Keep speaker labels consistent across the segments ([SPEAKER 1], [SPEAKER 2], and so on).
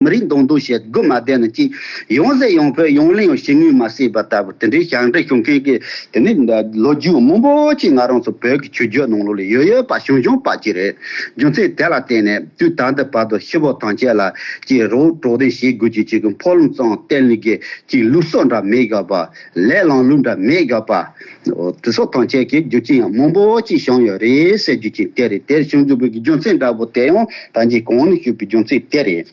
[SPEAKER 1] མི་རིགས་མདོག་མདོག་བྱེད་དགོས་མ་བསྡད་ན་ཅི། ཡོང་ཟེར་ཡོང་ཕོད་ཡོང་གླེང་ཡང་བྱེད་ནུས་མ་སྲིད་པ་ལྟ་བུ་དེ་འདྲའི་ཞག་འབྲེལ་བྱུང་མཁན་གྱི་དེ་ནི་ལོ་རྒྱུས་མང་པོ་ཅིག་ང་རང་ཚོ་བོད་ཀྱི་ཆོས་བརྒྱུད་ནང་ལོགས་ལས་ཡོད་ཡོད་པ་བྱུང་བྱུང་པ་ཅིག་རེད། རྒྱུ་མཚན་དེ་ལ་བརྟེན་ནས་དུས་ད་ལྟའི་བར་དུ་ཤི་བོ་ཐང་ཆད་ལ་ཅིག་རོགས་གྲོགས་དེ་བྱེད་དགོས་ཀྱི་ཅིག་ཕོག་ལམ་གཙང་བསྟན་ལུགས་ཀྱི་ཅིག་ལུགས་སོགས་འདྲ་མི་ག་པ། ལས་བླངས་གླུ་འདྲ་མེད་རྒྱག་པ། དེ་སོགས་ཐང་ཆད་ཀྱི་རྒྱུ་རྐྱེན་ཡང་མང་པོ་ཅིག་བྱུང་ཡོད་རེད་ཟེར་རྒྱུ་གཅིག་དེ་རེད་དེར་བྱུང་འདུག་པའི་རྒྱུ་མཚན་འདྲ་བོ་དེ་ཡང་ད་ཅིའི་གོང་ནས་ཞུས་པའི་རྒྱུ་མཚན་དེ་རེད།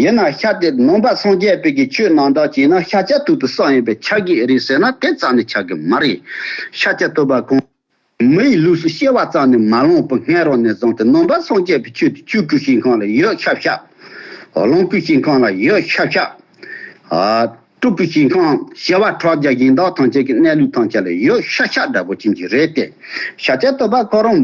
[SPEAKER 1] ཡིན་ན་ཤ་དེ་ནང་པ་སངས་རྒྱས་དཔལ་གྱི་ཆོས་ནང་དྲག་ཅིག་ན་ཤ་ལྕགས་ཐུག་ཏུ་བསགས་ཡིན་པས་ཆགས་ཀྱི་རེད་ཟེར་ན་དེ་ཙམ་ནས་ཆགས་ཀྱི་མ་རེད། ཤ་ལྕགས་ཐུག་པ་གང། མི་ཡི་ལུས་སུ་གཤེར་བ་ཙམ་ནས་མ་ལོངས་པར་སྔས་རོ་ནས་བཟུང་སྟེ་ནོམ་པར་སངས་རྒྱས་པའི་ཆོས་ཀྱི་ཆུས་ཀུན་ཞིང་ཁང་ལ་ཡོད་ཤབ་ཤབ། ལོངས་སྐུའི་ཞིང་ཁང་ལ་ཡོད་ཤབ་ཤབ། སྤྲུལ་སྐུའི་ཞིང་ཁང་བྱེ་བ་ཕྲག་བརྒྱ་གཞན་དག་ཐམས་ཅད་ཀྱི་གནས་ལུས་ཐམས་ཅད་ལ་ཡོད་ཤག་ཤག་འདྲ་པོ་ཅན་གྱི་རེད་དེ། ཤ་ཆད་བསྟོད་པ་ཁོ་རང་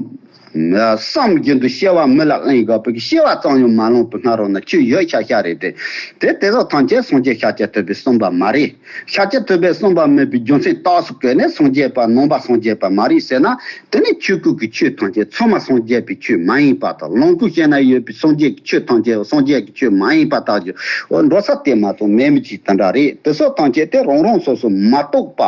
[SPEAKER 1] བསམ་བཞིན་དུ་གཤེར་བ་མི་ལ་གླེང་དགོས་པས་གཤེར་བ་ཙམ་ཡང་མ་ལོངས་པར་སྔ་རོ་ན་ཆུ་ཡོད་ཤག་ཤག་རེད་དེ། དེ་དེ་དག་ཐམས་ཅད་སངས་རྒྱས་ཤ་ཆད་བསྟོད་པས་གསུངས་པ་མ་རེད། ཤཱ་ཀྱ་ཐུབ་པས་གསུངས་པ་སྨོས་པའི་རྒྱུ་མཚན་རྟགས་སུ་བཀོད་ནས་སངས་རྒྱས་པ་ནོངས་པ་སངས་རྒྱས་པ་མ་རིག་ཟེར་ན་དེ་ནི་ཆོས་སྐུ་གི་ཆོས་ཐམས་ཅད་མཚོན་མ་སངས་རྒྱས་པའི་ཆོས་མ་ཡིན་པ་དང་ལོངས་སྐུ་གཞན་ན་ཡོད་པའི་སངས་རྒྱས་ཀྱི་ཆོས་ཐམས་ཅད་སངས་རྒྱས་ཀྱི་ཆོས་མ་ཡིན་པ་དག་གི་འོ་འགྲོ་ས་དེ་མ་གཏོགས་མེད་མི་གཅིག་དེ་འདྲ་རེད་དེ་སོགས་ཐམས་ཅད་དེ་རང་རང་སོ་སོ་མ་རྟོགས་པ་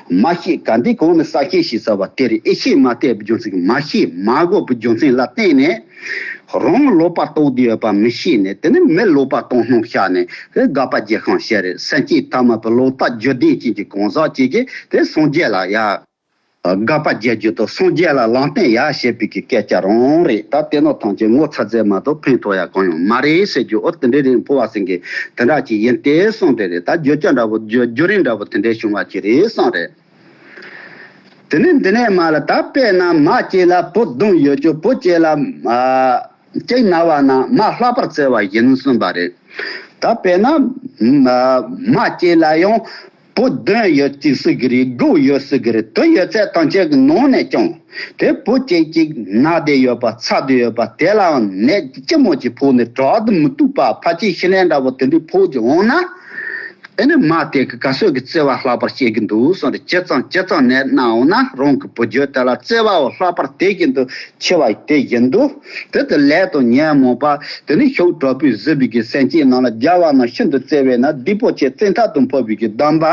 [SPEAKER 1] མ་ཤེས་ག་འདི་གང་ནས་ས་ཤེས་ཞེས་ཟེར་བ་དེར་ཨེ་ཤེས་མ་བལྟས་པའི་རྒྱུ་མཚན་གྱིས་མ་ཤེས་མ་གོ་བའི་རྒྱུ་མཚན་ལ་བརྟེན་ནས། རང་ལོག་པར་རྟོགས་དུས་ཡོད་པ་མི་ཤེས་ནས་དེ་ནས་མི་ལོག་པར་རྟོགས་སྣང་ཤར་ནས་དེ་དགག་པ་རྒྱས་ཤིང་བཤད་རེས་སེམས་བསྐྱེད་ཐ་མལ་པའི་ལོག་ལྟ་བརྗོད་བདེན་ཅན་གྱི་གང་ཟག་བྱེད་ཀྱི་དེ་སངས་རྒྱས་ལ་ཡ། དགག་པ་རྒྱས་བརྗོད་དུ་སངས་རྒྱས་ལ་ལངས་བསྟན་ཡ་ཞེས་པའི་གི་སྐད་ཆ་རང་རེད་ད་ལྟའི་ནོར་ཐང་ཆེན་ངོ་ཚ་ཚའི་མ་གཏོགས་ཕན་ཐོགས་ཡ་གང་ཡང་མ་རེད་ཟེར་རྒྱུ་ཨོ་དེ་འདྲའི་རིགས་འཕོ་བ་ཟིན་གི་དེ་འདྲ་ཅིག་ཡིན་དེ་བསམ་གི་རེད་ད་བརྗོད་བྱ་འདྲ་བོ་བརྗོད་རྒྱུ་རིང་འདྲ་བོ་དེ་འདྲའི་བྱུང་བ་ཅིག་རེད་བསམ་རེད། དེ་ནས་འདི་ནས་མ་ལ་དྭགས་པས་ན་མ་སྐྱེས་ལ་བུ་བདུན་ཡོད་ཀྱི་བུ་སྐྱེས་ལ། སྐྱེས་ན་བ་ན་མ་ལྷག་པར་བརྩེ་བ་ཡིན་གསུངས་པ་རེད། དྭགས་པས་ན། མ་སྐྱེས་ལ་ཡང་བུ་བདུན་ཡོད་ཅིག་སྲིད་གི་རིགས་དགུ་ཡོད་སྲིད་གི་རིགས་དུ་ཡོད་ཚད་དང་བཅས་ཀྱི་ནང་ནས་ཀྱང། དེ་བུ་སྐྱེས་གཅིག་ནག་དེ་ཡོད་པ་ཚ་དེ་ཡོད་པ་དེ་ལའང་ནད་ལྕི་མོ་ཅིག་ཕོག་ནས་དྲག་ཏུ་མི་སྡུག་པ་ཕ་ཅིའི་ཤི་ལན་འདྲ་བོ་དེ་འདྲས་ཕོག་ཅིག་འོང་ན། དེ་ནི་མ་དེ་གི་ག་གསོད་ཀྱི་བརྩེ་བ་ལྷག་པར་བསྐྱེད་ཀྱི་འདུག་གསུངས་ཏེ་ཇེ་གཙང་ཇེ་གཙང་ནས་གནང་འོང་ན་རང་གི་བུ་བརྒྱུད་དེ་ལ་བརྩེ་བའོ་ལྷག་པར་དེ་བཞིན་དུ་འཆི་བ་དེ་བཞིན་དུ། དེ་དེ་ལས་དང་ཉོན་མོངས་པ་དེ་ནི་ཞོགས་དྲག་པོའི་གཟི་བརིགས་ཀྱི་སེང་ཆེན་ནང་ལ་སྦྱར་བ་ན་ཤིན་ཏུ་བརྩེ་བས་ན་སྡིག་པོ་ཆེ་བརྩེ་མཐའ་དང་འཕོ་བའི་གདམས་པ།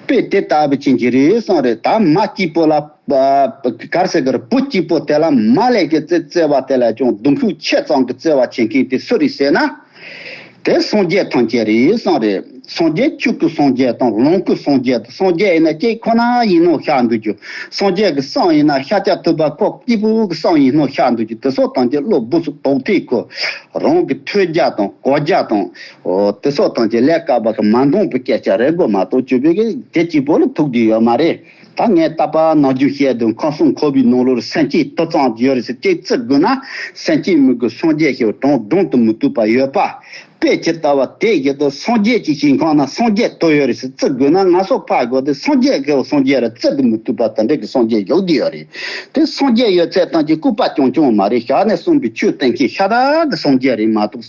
[SPEAKER 1] པས་དེ་ལྟ་བུ་ཅན་གྱི་རིའི་སྲང་རེ་དག་མ་སྐྱིད་པོ་ལ། གར་སེ་གར་བུ་སྐྱིད་པོ་དེ་ལ་མ་ལས་ཀྱི་རྩེ་རྩེ་བ་དེ་ལས་ཀྱང་གདུང་ཤུགས་ཆེ་ཙང་གི་རྩེ་བ་བྱེད་མཁན་དེ་སུ་རེད་ཟེར་ན། དེ་སངས་རྒྱས་ཐམས་ཅད་རིའི་སྲང་རེད། སངས་རྒྱས་ཕྱུག་གི་སངས་རྒྱས་དང་ལོངས་སྐུ་སངས་རྒྱས་དང་སངས་རྒྱས་ཡིན་ན་སྐྱིད་ཁོ་ན་ཡིན་ནོ་ཤ་འདུག་རྒྱུ། སངས་རྒྱས་ཀྱི་སྲང་ཡིན་ན་ཤ་ཀྱ་ཐུབ་པ་ཁོ་སྐྱིད་པོ་གི་སྲང་ཡིན་ནོ་ཤ་འདུག་རྒྱུ་དེ་སོགས་དང་གི་བློ་སྦུབས་སུ་དོགས་ཐེ་ཁོ་རང་གི་ཐོས་རྒྱ་དང་གོ་རྒྱ་དང། ཨོ་དེ་སོགས་དང་བཅས་ལས་བཀག་པ་གི་མ་མཐོང་བུ་སྐད་ཆ་རེ་དགོས་མ་གཏོགས་བྱུས་པའི་དེ་གཅིག་པོ་ལ་ཐུག་རྒྱུ་ཡོད་མ་རེད། ད་ངས་ལྟ་པ་ནག་རྒྱུན་བཤད་དུས་མཁའ་སྲུང་ཁོ་བོའི་ནང་ལོར་སེམས་སྐྱིད་ཏོ་ཙང་བརྗོད་རེ་ཟེར་ཅིག་བརྩི་དགོས་ན་སེམས་སྐྱིད་མི་དགོས་སངས་རྒྱས་ཞེས་པ་དྲང་བདུང་དུ་མི་བཏུས་པ་ཡོད་པ་དཔེ་ཇི་ལྟ་བ་དེ་བཞིན་དུ་སངས་རྒྱས་ཀྱི་ཞིང་ཁང་ན་སངས་རྒྱས་ཏོ་ཡོད་རེ་ཟེར་བརྩི་དགོས་ན་ང་སོགས་ཕ་དགོས་ཏེ་སངས་རྒྱས་ཞེས་པ་སངས་རྒྱས་རེད་བརྩི་དུ་མི་བཏུས་པ་དེ་འདྲ་གི་སངས་རྒྱས་ཞོག་གི་ཡོད་རེད་དེ་སངས་རྒྱས་ཡོད་ཚད་ཐང་ཅིག་སྐུ་པ་ཀྱང་བྱུང་བ་མ་རེད་ཞག་ནས་གསུངས་པའི་ཆོས་བསྟན་མཁན་ཤ་སྟག་གི་སངས་རྒྱས་རེད་མ་གཏོགས།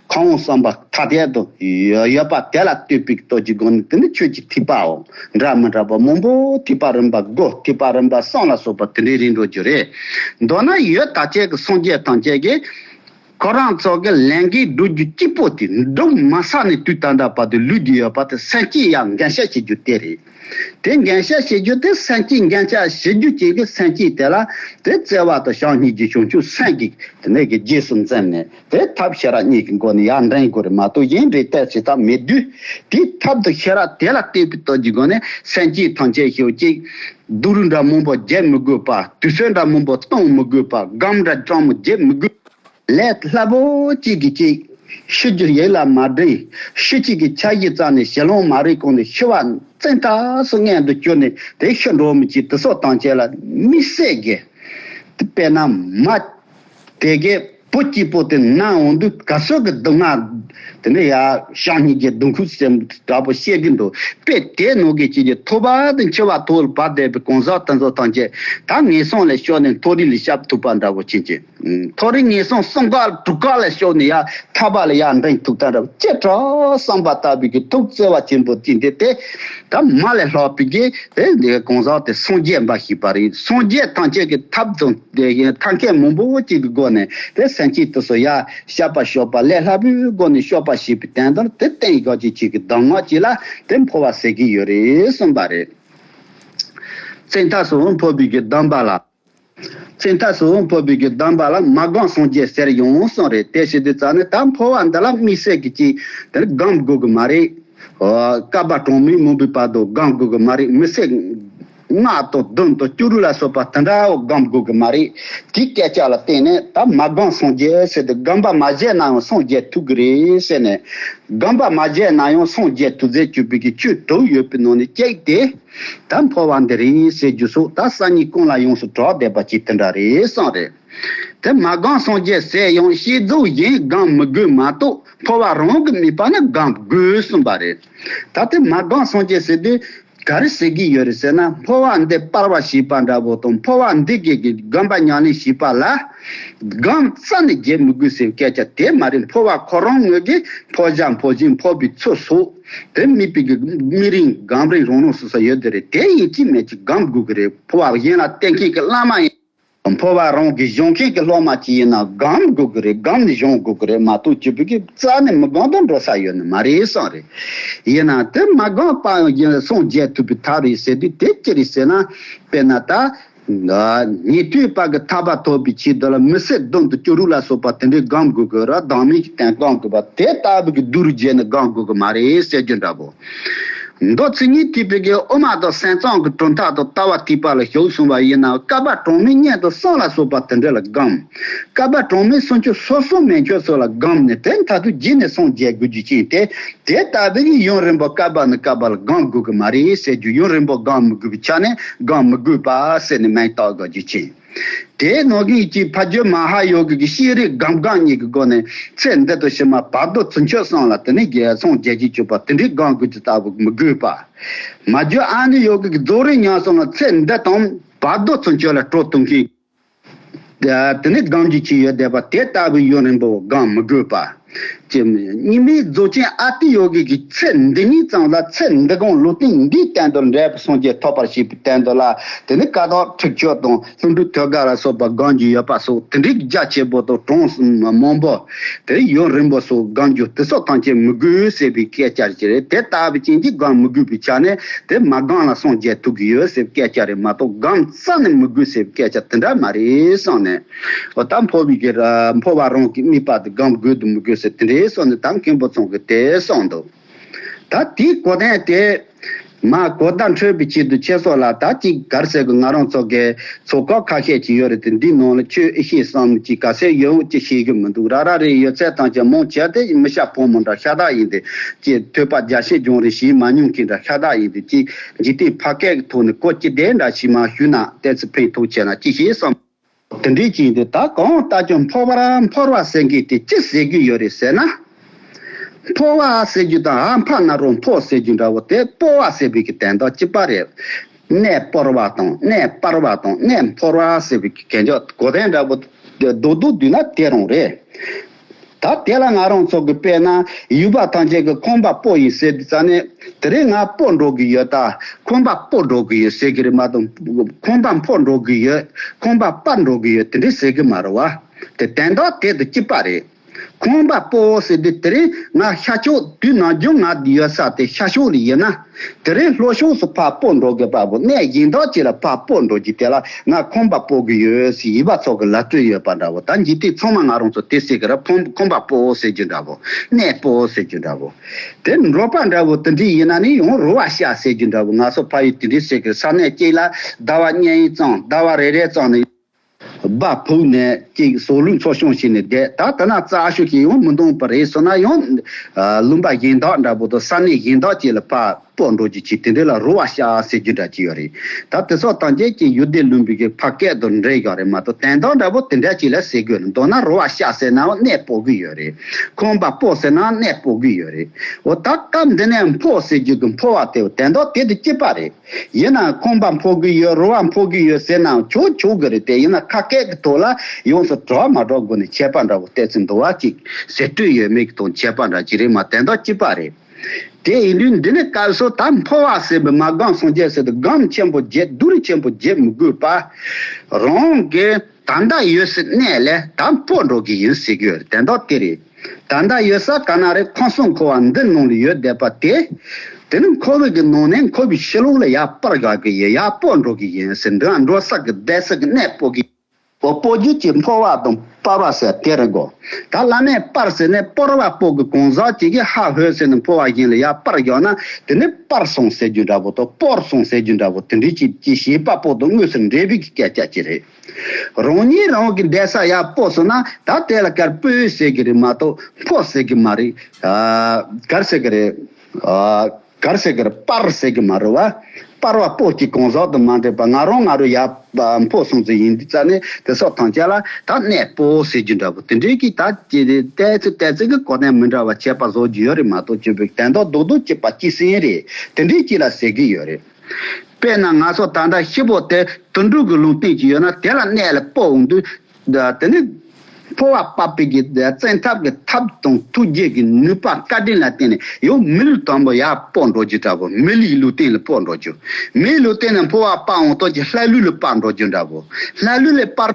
[SPEAKER 1] ཁོང་གསུམ་པོ་ཐ་དད་དུ་ཡོད་པ་དེ་ལ་ལྟོས་པའི་ལྟོས་ཀྱི་སྒོ་ནས་དེ་ནི་ཁྱོད་ཀྱི་ཐིགས་པའོ། འདྲ་མི་འདྲ་བ་མང་པོ་ཐིགས་པ་རིམ་པ་དགུ་ཐིགས་པ་རིམ་པ་གསུམ་ལ་སོགས་པ་དེ་འདྲའི་རིགས་འགྲོ་རྒྱུ་རེད། མདོར་ན་ཡོད་དག་ཅན་གྱི་སངས་རྒྱས་ཐམས་ཅད་ཀྱིས་ཁོ་རང་ཚོ་གི་ལན་ཀའི་སྒྲོལ་རྒྱུ་སྐྱིད་པོ་དེ་འགྲུབ་མ་ས་ནས་དུས་ད་ལྟ་བར་དུ་ལུས་ཀྱི་ཡོད་པ་དེ་སེམས་སྐྱིད་ཡང་འགན་བཞེས་བྱེད་རྒྱུ་དེ་རེད། དེ་འགན་བཤགས་བྱེད་རྒྱུ་དེ་སེམས་བསྐྱེད་འགན་བཤགས་བྱེད་རྒྱུ་བྱེད་ཀྱི་སེམས་བསྐྱེད་དེ་ལ་དེ་བརྩེ་བ་དང་བྱང་སྙིང་རྗེ་ཆུང་ཆུང་སེམས་བསྐྱེད་དེ་ནས་གི་རྗེས་སུ་འཛིན་ནས་དེ་ཐབས་ཤེས་རབ་གཉིས་ཀྱི་སྒོ་ནས་ཡར་འདྲེན་དགོས་རེད་མ་གཏོགས་གཞན་འདྲེན་གཏད་བྱེད་ཐབས་མེད་དུས་དེའི་ཐབས་དང་ཤེས་རབ་དེ་ལ་བརྟེན་པའི་སྟོབས་ཀྱི་སྒོ་ནས་སེམས་བསྐྱེད་ཐམས་ཅད་ཞུ་གཅིག། སྡུག་རུས་འདྲ་མང་པོ་བརྒྱལ་མི་དགོས་པ་དུས་ཚོད་འདྲ་མང་པོ་གཏོང་མི་དགོས་པ་སྒམ་འདྲ་ཅང་མི་བརྒྱལ་མི་དགོས། ལས་སླ་པོ་གཅིག་གིས་ཅིག་ཤོས་ཀྱི་ཡིད་ལ་མ་བདེ་ཤོས་གཅིག་གིས་ཆ་གཞི་རྩ་ནས་ཞེ་ལོང་མ་རེད་ཁོང་ནི་ཤི་བ་བཙན་ཐགས་སུ་མངལ་དུ་བསྐྱུར་ནས་དེ་ཤི་འགྲོ་མི་གཅིག་དུ་སྲོག་དང་བཅས་ལ་དམིགས་བསལ་གྱི་དཔེ་ན་མ། དེ་སྐད་བུ་སྐྱིད་པོ་དེ་ན་འོང་དུས་ག་ཚོད་ཀྱི་སྡུག་བསྔལ་དེ་ནི་ཡ་ཞང་གཉིས་ཀྱི་སྡུག་ཁུག་ཟེར་འདྲ་པོ་བཤད་ཀྱི་འདུག་དཔེ་དེའི་ནང་གི་བྱེས་ཀྱི་ཐོ་བ་དང་འཁྱིལ་བ་ཐོག་ལ་བབས་བསྡད་པའི་གང་ཟག་དེ་ཚོ་ཐམས་ཅད་ད་ངན་སོང་ལས་ཤོར་ནས་མཐོ་རིས་ལ་ཤབ་ཐུབ་པ་འདྲ་བོ་བྱེད་ཀྱི། མཐོ་རིས་ངན་སོང་གསུམ་ཀ་དྲུག་ཀ་ལ་ཞོག་ནས་ཡང་ཐར་པ་ལ་ཡར་འབྲིང་ཐུགས་དམ་རབ་བསྐྱེད་གྲོལ་བསམ་པ་ལྟ་བུའི་གི་ཐུགས་བརྩེ་བ་ཆེན་པོ་ཅི་འདི་དེ་དག་མ་ལས་ལྷག་པའི་གི་དེ་འདི་གང་ཟག་དེ་སངས་རྒྱས་འབའ་ཞིག་པ་རེད་སངས་རྒྱས་ཐམས་ཅད་ཀྱི་ཐབས་དང་ཐབས་མཁས་མང་པོ་བོ་ཅིག་གི་སྒོ་ནས་དེ་སེམས་ཅན་དུ་སོ་ཡ་ཤ་པ་ཞོག་པ་ལས་ལྷག་པའི་སྒོ་ནས་ཤོག་པ་ཞེས་པའི་དོན་དང་དེ་བསྟན་ཡོད་ཅིག་ཅིག་གི་གདམས་ངག་ཅིག་ལ་དེ་འཕོ་བ་ཟེར་གི་ཡོད་རེད་གསུངས་པ་རེད། ཚེ་མཐའ་སོ་འཕོ་བའི་གི་གདམས་པ་ལ། ཚེ་འཐའ་སུ་འཕོ་བུ་གྱི་གདམས་པ་ལ་མ་དགོངས་སངས་རྒྱས་ཟེར་ཡོང་གསུངས་རེད་དེ་བྱེད་དུས་རྩ་ནས་ད་འཕོ་བ་འདི་ལ་དམིགས་བསལ་གྱི་ཅིག་དེར་དགང་དགོས་ཀྱི་མ་རེད། བསྐལ་པ་གྲངས་མེད་མང་པོའི་བར་དུ་དགང་དགོས་ཀྱི་མ་རེད་མི་ཚེ་ལྔ་དང་བདུན་དང་བཅུ་དྲུག་ལ་སོགས་པ་དེ་འདྲ་བོ་དགང་དགོས་ཀྱི་མ་རེད་དེའི་སྐད་ཆ་ལ་བརྟེན་ནས་ད་མ་དགོངས་སངས་རྒྱས་ཟེར་དུས་དགོངས་པ་མ་བཞེས་ན་ཡང་སངས་རྒྱས་ཐུག་གི་རེད་ཟེར་ནས། དགོངས་པ་མ་བཞེས་ན་ཡང་སངས་རྒྱས་ཐུག་ཚེ་བཅུ་བུ་གྱི་བཅུ་དྲུག་ཡོད་པའི་ནང་ནས་གཅིག་དེ། ད་འཕོ་བ་འདི་རེད་ཟེར་རྒྱུ་སོགས་ད་གསར་གཉིས་ཀུན་ལ་ཡོངས་སུ་གྲགས་བསྡད་པ་གཅིག་དེ་འདྲ་རེད་བསམ། རེད་དེ། མ་སྒང་སངས་རྒྱས་ཟེར་ཡང་ཤེས་རྫོགས་གཞན་སྒང་མི་དགོས་མ་གཏོགས་འཕོ་བ་རང་གི་ནུས་པ་ནི་སྒང་དགོས་གསུངས་པ་རེད། ད་དེ་མ་སྒང་སངས་རྒྱས་ཟེར་དུས་ག་རེ་ཟེར་གྱི་ཡོད་རེད་ཟེར་ན་འཕོ་བ་འདི་སྤར་བ་ཞིག་པ་འདྲ་བོ་དང་འཕོ་བ་འདི་སྐྱེས་ཀྱི་སྒང་པ་ཉག་ལེན་ཞིག་པ་ལ། སྒང་རྩ་ནས་བརྗེད་མི་དགོས་ཟེར་བའི་སྐད་ཆ་དེ་མ་རེད་འཕོ་བ་ཁོ་རང་ངོས་ཀྱི་འཕོ་བྱ་འཕོ་བཞིན་འཕོ་བའི་ཚུལ་སོགས། དེ་རྨིས་པའི་གི་རྨིས་རིང་སྒམ་རིང་རོང་ནོར་སུ་ས་ཡོད་དེ་རེད་དེ་ཡིན་ཅི་མེད་ཅི་སྒམ་དགོས་གི་རེད་ཕོ་བ་གཞན་ལ་བསྟེན་མཁན་གི་བླ་མ་ཡིན། ཕོ་བ་རང་གི་གཞོན་མཁན་གི་སློབ་མ་གཅིག་ཡིན་ན་སྒམ་དགོས་གི་རེད་སྒམ་ནི་གཞོན་དགོས་གི་རེད་མ་གཏོགས་སྤྱི་ཕུད་ཀི་རྩ་ནས་མི་སྒང་དང་འགྲོ་ས་ཡོད་ནི་མ་རེད་བསམ་རེད། ཡིན་ན་དེ་མ་སྒང་པའང་ཡིན་སངས་རྒྱས་ཐུབ་པའི་ཐབས་རེད་ཟེར་དུས་དེ་ཅི་རེད་ཟེར་ན་དཔེར་ན་ད་ཉེ་དུས་བར་གྱི་ཐར་པ་ཐོབ་པའི་ཆེད་དུ་ལ་མི་བསད་རྡུང་དང་སྐྱུ་རུ་ལ་སོགས་པ་དེ་འདྲས་སྒང་དགོས་ཀྱི་ར་སྡང་མིན་གྱི་སྟེང་སྒང་དགོས་པ་དེ་ལྟ་བུ་གྱི་རྡུལ་རུ་རྗེས་ནས་སྒང་དགོས་ཀྱི་མ་རེད་ཟེར་རྒྱུ་འདྲ་བོ། མདོ་ཚིག་གཉིས་ཐིག་པའི་གའི་དབུ་མ་དང་སེང་གཙང་གི་གྲུབ་མཐའ་དང་ལྟ་བ་ཐིག་པ་ལ་ཞུགས་སོང་བ་ཡིན་ན་བསྐལ་པ་གྲངས་མེད་སྙན་དུ་སོང་ལ་སོགས་པ་དེ་འདྲས་ལ་སྒང། བསྐལ་པ་གྲངས་མེད་སོང་ཆུ་སོ་སོ་མེ་མཆོད་སོགས་ལ་སྒང་ནས་དེ་མཐའ་དུ་རྒྱུད་ནས་སངས་རྒྱས་དགོས་རྒྱུ་ཅན་དེ་དེ་ལྟ་བུས་ཡུན་རིང་པོ་བསྐལ་པ་ནས་བསྐལ་པ་ལ་སྒང་དགོས་ཀྱི་མ་རེད་ཟེར་རྒྱུ་ཡུན་རིང་པོ་སྒང་མི་དགོས་པའི་ཆ་ནས་སྒང་མི་དགོས་པ་ཟེར་ནས་མེད་རྟགས་དགོས་རྒྱུ་ཅན་དེ་ནོ་གིང་གཅིག་ཕ་རྒྱུད་མ་ཧཱ་ཡོ་གི་གི་ཤེས་རིག་སྒང་སྒང་གཉིས་ཀྱི་སྒོ་ནས་ཚེ་འདི་དང་ཕྱི་མ་བར་དོ་ཚུན་ཆོད་སོང་ལ་དེ་ནས་རྒྱལ་སངས་རྒྱས་རྒྱུད་བཅུག་པ་དེ་འདྲའི་སྒང་དགོས་རྒྱུ་ལྟ་བུ་མི་དགོས་པ། མ་རྒྱུད་ཨ་ནི་ཡོ་གི་གི་རྫོགས་རིམ་མྱངས་སོང་ལ་ཚེ་འདི་དང་བར་དོ་ཚུན་ཆོད་ལ་སྤྲོ་བསྟུན་མཁན། དེ་ནས་སྒང་གི་ཅི་ཡོད་བསྡད་པ་དེ་ལྟ་བུའི་ཡུན་རིང་པོ་སྒང་མི་དགོས་པ། ཅེས་མོད། ཉི་མའི་རྫོགས་ཆེན་ཨ་ཏི་ཡོ་གི་གི་ཚེ་འདི་ཉིད་ཙམ་ལ་ཚེ་འདི་དགོངས་ལུགས་ཏིང་འདིའི་བསྟན་དུ་འབྲས་བུ་སངས་རྒྱས་ཐོབ་པར་བྱེད་པའི་བསྟན་དུ་ལ་དེ་ནི་ཀ་དག་ཁྲིགས་ཆོད་དང་ལྷུན་གྲུབ་ཐོད་དཀར་ལ་སོགས་པ་སྒང་གི་ཡོད་པ་སོགས་དེ་འདྲའི་རྒྱ་ཆེ་པོ་དང་གྲངས་མང་པོ། དེ་ཡུན་རིང་པོ་སོགས་སྒང་རྒྱུ་དེ་སོགས་ཐམས་ཅད་མི་དགོས་ཟེར་བའི་སྐད་ཆ་རེད་དེ་ལྟ་བུའི་རྐྱེན་གྱིས་སྒང་མི་དགོས་པའི་ཆ་ནས་དེ་མ་སྒང་ལ་སངས་རྒྱས་ཐུག་གི་ཡོད་ཟེར་བའི་སྐད་ཆ་རེད་མ་གཏོགས་སྒང་བསམ་ནས་མི་དགོས་ཟེར་བའི་སྐད་ཆ་དེ་འདྲ་མ་རེད་བསམ་ནས། ད་འཕོ་བའི་སྒེར། འཕོ་བ་རང་གི་རྨིས་པ་དེ་སྒང་དགོས་དུ་མི་དགོས་ཟེར་དེ་འདྲའི་བསམ་ནས་ད་མཁན་པོ་ཚང་གི་དེ་བསམ་འདུག། ད་དེའི་གོ་བདེན་དེ། མ་གོ་བརྡ་འཕྲོད་པའི་ཆེད་དུ་ཁྱེད་སོགས་ལ་ད་ཅིག་གར་ཟེར་གི་ང་རང་ཚོ་གའི་ཚོ་ཁག་ཁ་ཤས་ཅིག་ཡོད་རེད་དེ་འདིའི་ནང་ལ་ཁྱོད་ཨེ་ཤེས་སམ་ཅིག་ག་ཟེར་ཡོད་འོང་ཅིག་ཤེས་ཀྱི་མི་འདུག་ར་ར་རེད་ཡོད་ཚད་ཐང་ཆེན་མང་ཆེ་དེ་མི་ཤ་ཕོ་མོ་འདྲ་ཤ་སྟག་ཡིན་དེ། ཅེས་ཐོས་པ་རྒྱ་ཤེས་སྦྱོང་རེ་བྱེད་མ་མྱོང་མཁན་འདྲ་ཤ་སྟག་ཡིན་དེ་ཅེས། འཇིག་རྟེན་ཕ་སྐད་ཀྱི་ཐོག་ནས་ཀོ་སྐྱི་ལྡན་འདྲ་ཞིག་མ་ཞུས་ན་ལྟས་ཚེ་ཕན་ཐོགས་ཆེ་ན་ཅི་ཞིག་བསམ། དེ་འདྲའི་ཅིག་འདི་ད་གང་ལྟ་ཀྱང་འཕོ་བར་འཕོར་བ་ཟེར་མཁན་དེ་ཅི་ཟེར་རྒྱུ་ཡོད་རེད་ཟེར་ན། འཕོ་བ་ཟེར་རྒྱུ་དང་ཨ་འཕ་ན་རོ་འཕོ་ཟེར་རྒྱུ་འདྲ་བོ་དེ་སྤོ་བ་ཟེར་བའི་གི་དན་དང་གཅིག་པ་རེད། གནས་སྤོར་བ་དང་གནས་སྤར་བ་དང་གནས་འཕོར་བ་ཟེར་བའི་གི་གན་ཅག་གོ་དན་འདྲ་བོ་རྡོག་རྡོག་བསྡུས་ན་དེ་རང་རེད། ད་དེ་ལ་ང་རང་ཚོ་གི་དཔེ་ན་ཡུལ་པ་ཐམས་ཅད་ཀྱི་ཁོམ་པ་སྤོ་ཡིན་ཟེར་དུས་ཙང་ནས་དེ་རིང་ང་སྤོ་འགྲོ་གི་ཡོད་ད་ཁོམ་པ་སྤོ་འགྲོ་གི་ཡོད་ཟེར་གི་རེད་མ་གཏོགས་ཁོམ་པ་འཕོ་འགྲོ་གི་ཡོད་ཁོམ་པ་སྤར་འགྲོ་གི་ཡོད་དེ་འདྲས་ཟེར་གི་མ་རེད་བ། དེ་དན་ཏོག་དེད་དུ་སྐྱིད་པ་རེད། ཁོམ་པ་སྤོའོ་ཟེར་དུས་དེ་རིང་ང་ཤར་ཕྱོགས་དུས་ནང་རྒྱུན་ང་ཡོད་ས་དེ་ཤར་ཕྱོགས་ལ་ཡོད་ན། དེ་རིང་ལྷོ་གཞུང་སུ་ཕར་སྤོ་འགྲོ་དགོས་པ་པོ་གནས་དབྱིངས་དག་ཅིག་ལ་ཕར་སྤོ་འགྲོ་རྒྱུ་དེ་ལ་ང་ཁོམ་པ་སྤོ་གི་ཡོད་ཟེར་ཡིད་པ་ཚོགས་ཀྱི་ལ་སྤྲོད་ཡོད་པ་འདྲ་བོ་ད་འཇིག་དུས་ཚང་མ་ང་རང་ཚོ་དེ་སྲིད་ཀྱི་ར་ཕོམ་ཁོམ་པ་སྤོའོ་ཟེར་རྒྱུ་འདྲ་བོ་གནས་སྤོའོ་ཟེར་རྒྱུ་འདྲ་བོ། དེ་འབྲོག་པ་འདྲ་བོ་དེ་འདྲའི་ཡིན་ན་ནི་ཡང་རུ་བ་བཤའ་ཟེར་རྒྱུ་འདྲ་བོ་ང་ཚོ་ཕ་ཡུལ་དེ་འདྲའི་སྲིད་ཀྱི་ས་གནས་གཅིག་ལ་ཟླ་བ་གཉན་ཡིན་ཙང་ཟླ་བ་རེ་རེ་ཙང་ནི། སྦག་ཕུག་ནས་ཅིག་ཟོག་ལུག་ཚོ་ཤོང་བྱས་ནས་བསྡད་ད་ལྟ་ན་རྩྭ་ཤོད་ཀྱི་ཡང་མི་འདུག་པ་རེད་སོ་ན་ཡང། ལུང་པ་གཞན་དག་འདྲ་པོ་དང་ས་གནས་གཞན་དག་བཅས་ལ་ཕར་སྤོས་འགྲོ་རྒྱུ་བྱས་དེ་འདི་ལ་རུ་བ་བྱ་ཟེར་རྒྱུ་འདྲ་ཅི་ཡོད་རེད་ད་དེ་སོགས་ཐམས་ཅད་ཀྱི་ཡུལ་སྡེ་ལུང་པའི་གི་ཕ་སྐད་དང་འདྲེས་བཞག་རེད་མ་གཏོགས་དན་དག་འདྲ་པོ་དེ་འདྲ་ཅིག་ལ་ཟེར་དགོས་ན་མདོར་ན་རུ་བ་བྱ་ཟེར་ནའང་གནས་སྤོ་གི་ཡོད་རེད་ཁང་པ་སྤོ་ཟེར་ནའང་གནས་སྤོ་གི་ཡོད་རེད་འོ་ད་སྐབས་འདི་ནས་འཕོ་ཟེར་རྒྱུ་གི་འཕོ་བ་དེ་དན་དག་དེ་དུ་སྐྱེས་པ་རེད། ཡིན་ན་ཁོང་པ་འཕོ་གི་ཡོད་རུ་བ་འཕོ་གི་ཡོད་ཟེར་ན་ཆོག་ཆོག་གི་རེད་དེ་ཡིན་ན་ཁ་སྐད་ཀྱི་ཐོག་ལ་ཡོངས་སུ་གྲོགས་མ་གྲོགས་སྒོ་ནས་ཁྱད་པར་འདྲ་བོ་བལྟས་ཚུལ་འདུག་བ་གཅིག་ཟེར་སྤྲོས་ཡོད་མེད་ཀྱི་ཐོག་ཁྱད་པར་འདྲ་ཅི་རེད་མ་དེ་འདྲ་ཅི་པ་རེད། དེ་ཡིན་དུས་འདི་ནས་བཀའ་ཟུར་ད་འཕོ་བ་ཟེར་བའི་མ་སྒང་སངས་རྒྱས་ཟེར་དུ་སྒམ་ཆེན་པོ་བརྒྱད་བསྡུར་ཆེན་པོ་བརྒྱད་མི་དགོས་པ། རང་གི། དང་ད་ཡོད་སི་གནས་ལས་ད་སྤོ་འགྲོ་གི་ཡིན་ཟེར་རྒྱུ་དེ་འདྲ་དེ་རེད། དང་ད་ཡོད་ས་ག་ན་རེད་ཁོང་སོང་ཁོ་བ་འདི་ནང་ལ་ཡོད་བསྡད་པ་དེ། དེ་ནི་ཁོ་བོད་ཀྱི་ནང་ནས་ཁོ་བོའི་ཤི་ལོང་ལ་ཡར་སྤར་དགའ་གི་ཡིན་ཡར་སྤོ་འགྲོ་གི་ཡིན་ཟེར་འདི་འགྲོ་ས་གི་བསྡད་སི་གནས་སྤོ་གི། འོ་སྤོ་རྒྱུ་གྱི་འཕོ་བ་དང་སྤར་བ་ཟེར་དེ་རེད་དགོ། ད་བླ་མས་སྤར་ཟེར་ནས་སྤོར་བ་སྤོ་གི་གོང་ཟག་བྱེད་ཀྱི་ཧ་ཧོས་ཟེར་ནས་འཕོ་བ་བཞིན་ལ་ཡར་སྤར་རྒྱག་ན་དེ་ནི་སྤར་སོང་ཟེར་རྒྱུ་འདྲ་བོ་དང་སྤོར་སོང་ཟེར་རྒྱུ་འདྲ་བོ་དེ་འདྲའི་ཕྱིར་ཀྱི་ཞེས་པ་པོ་དང་དངོས་སུ་འབྲེལ་བུ་གི་སྐད་ཆ་ཅིག་རེད། རང་ཉིད་རང་གི་འདས་ས་ཡར་སྤོ་སོང་ན་ད་དེ་ལ་ཀར་སྤོས་ཟེར་གི་རེད་མ་གཏོགས་འཕོ་ཟེར་གི་མ་རེད། ཀར་ཟེར་གི་རེད། གར་བྱེད་གར་སྤར་ཟེར་གི་མ་རེད་བ། སྤར་བ་པོ་གཅིག་གང་ཟག་དུ་མ་འདྲེས་པ་ང་རང་ང་རོ་ཡག་པོ་སོང་ཚོད་ཡིན་དུས་རྩ་ནས་དེ་སོགས་ཐང་ཆད་ལ་ད་གནས་པོ་ཟེར་རྒྱུ་འདྲ་པོ་དེ་འདྲས་ཀྱིས་ད་ཀྱི་ལྟས་ཚོད་ལྟས་ཚོད་ཀྱི་གོ་དན་མི་འདྲ་བ་བྱས་པ་བཟོ་རྒྱུ་ཡོད་རེད་མ་གཏོགས་སྤྱོད་པའི་དན་ཏོག་རྡོག་རྡོག་གཅིག་པ་གཅིག་ཟིན་རེད་དེ་འདྲས་ཀྱིས་ལ་ཟེར་གྱི་ཡོད་རེད། དཔེར་ན་ང་ཚོ་ད་ལྟ་ཤི་བོ་དེ་དུད་འགྲོ་གི་ལུང་བསྟན་གྱི་ཡོད་ན་དེ་ལ་གནས་ལ་སྤོ་འོང་དུས་དེ་ནི་འཕོ་བ་པ་པི་ཀའི་བཙན་ཐབས་ཀྱི་ཐབས་དང་ཐུགས་རྗེ་ཀྱི་ནུས་པ་བཀའ་དྲིན་ལ་བརྟེན་ནས་ཡང་མི་ལུས་དང་པོ་ཡར་སྤོས་འགྲོ་རྒྱུ་འདྲ་བོ་མི་ལུས་ལུས་སྟེང་ལ་སྤོས་འགྲོ་རྒྱུ། མིའི་ལུས་སྟེང་ནས་འཕོ་བ་པ་འོང་སྟོད་ཀྱི་ལྷའི་ལུས་ལ་སྤར་འགྲོ་རྒྱུ་འདྲ་བོ་ལྷའི་ལུས་ལས་སྤར།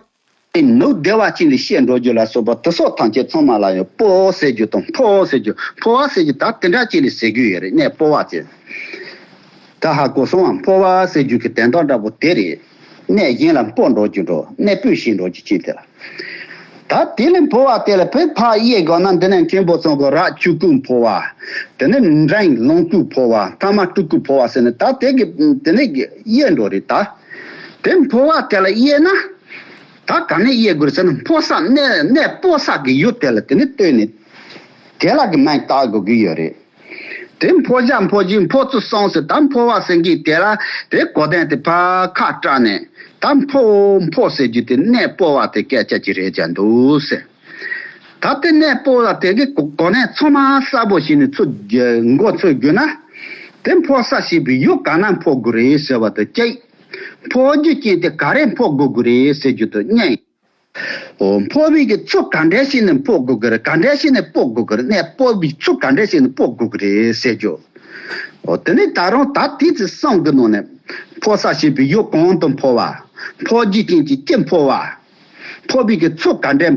[SPEAKER 1] དེ་ནུབ་བདེ་བ་ཅན་ལས་གཤེགས་འགྲོ་རྒྱུ་ལ་སོགས་པ་དུག་སོགས་ཐམས་ཅད་ཚང་མ་ལ་ཡང་སྤོ་ཟེར་རྒྱུ་དང་འཕོ་ཟེར་རྒྱུ་འཕོ་བ་ཟེར་རྒྱུ་དག་དེ་འདྲ་ཅན་ལས་ཟེར་རྒྱུ་ཡོད་རེད་ནས་སྤོ་བ་ཟེར། ད་ཧ་གོ་སོང་ཨ་འཕོ་བ་ཟེར་རྒྱུ་གི་དན་རྟགས་འདྲ་བོ་དེ་རེད། གནས་གཞན་ལ་སྤོས་འགྲོགས་ཀྱི་འགྲོ་གནས་སྤོས་ཤིང་འགྲོགས་ཀྱི་ཅི་དེར་ད་དེ་ལས་འཕོ་བ་དེ་ལ་བོད་ཕག་གཡས་དགོ་ན་འདི་ནས་མཁན་པོ་ཚང་གི་རག་བཅུ་སྐུ་འཕོ་བ་དེ་ནས་འབྲིང་ལོང་སྐུ་འཕོ་བ་ཐ་མ་སྤྲུལ་སྐུ་འཕོ་བ་ཟེར་ནས་ད་དེ་གི་དེ་ནས་གཡས་འགྲོ་རེད་ད་དེ་འཕོ་བ་དེ་ལ་གཡས་ན་ད་ག་ནས་གཡས་དགོས་རེད་ཟེར་ན་འཕོ་ས་གནས་གནས་སྤོ་ས་གི་ཡུལ་དེ་ལ་དེ་ནས་བསྟོད་ནས་དེ་ལ་གི་མན་བཏགས་དགོས་ཀྱི་ཡོད་རེད། དེ་འཕོ་བྱ་འཕོ་རྒྱུའི་འཕོ་ཚུལ་གསུངས་སོ་ད་འཕོ་བ་ཟེར་གྱི་དེ་ལ་དེ་གོ་བསྟན་ཏེ་བར་ཁ་སྐྲག་ནས་ད་འཕོ་འཕོ་ཟེར་རྒྱུ་དེ་གནས་སྤོ་བ་དེ་སྐད་ཆ་གཅིག་རེད་ཅག་འདུག་ཟེར། ད་དེ་གནས་སྤོ་ལ་དེ་གའི་གོ་གནས་ཚང་མ་གསལ་པོ་ཞིག་ནས་མགོ་འཚོས་རྒྱུ་ན། དེ་འཕོ་ས་ཞིག་བི་ཡུ་ག་ན་འཕོ་དགོས་རེད་ཟེར་བ་དང་གཅིག། འཕོ་རྒྱུའི་རྐྱེན་དེ་ག་རེ་འཕོ་དགོས་དགོས་རེད་ཟེར་རྒྱུ་དང་གཉིས། སྤོ་བིས་ཀྱི་ཚུགས་ག་འདྲས་ཤིག་ནས་སྤོ་དགོས་ཀྱི་རེད་ག་འདྲས་ཤིག་ནས་སྤོ་དགོས་ཀྱི་རེད་ནས་སྤོ་བིས་ཚུགས་ག་འདྲས་ཤིག་ནས་སྤོ་དགོས་ཀྱི་རེད་ཟེར་རྒྱུ། དེ་ནི་ད་རུང་ད་ལྟའི་ཚེ་སྲང་གི་ནང་ནས་འཕོ་ས་ཞེས་པའི་ཡུལ་གང་དུ་འཕོ་བ། འཕོ་རྒྱུའི་རྐྱེན་གྱིས་ཀྱི་འཕོ་བ། སྤོ་བིས་ཀྱི་ཚུགས་ག་འདྲས།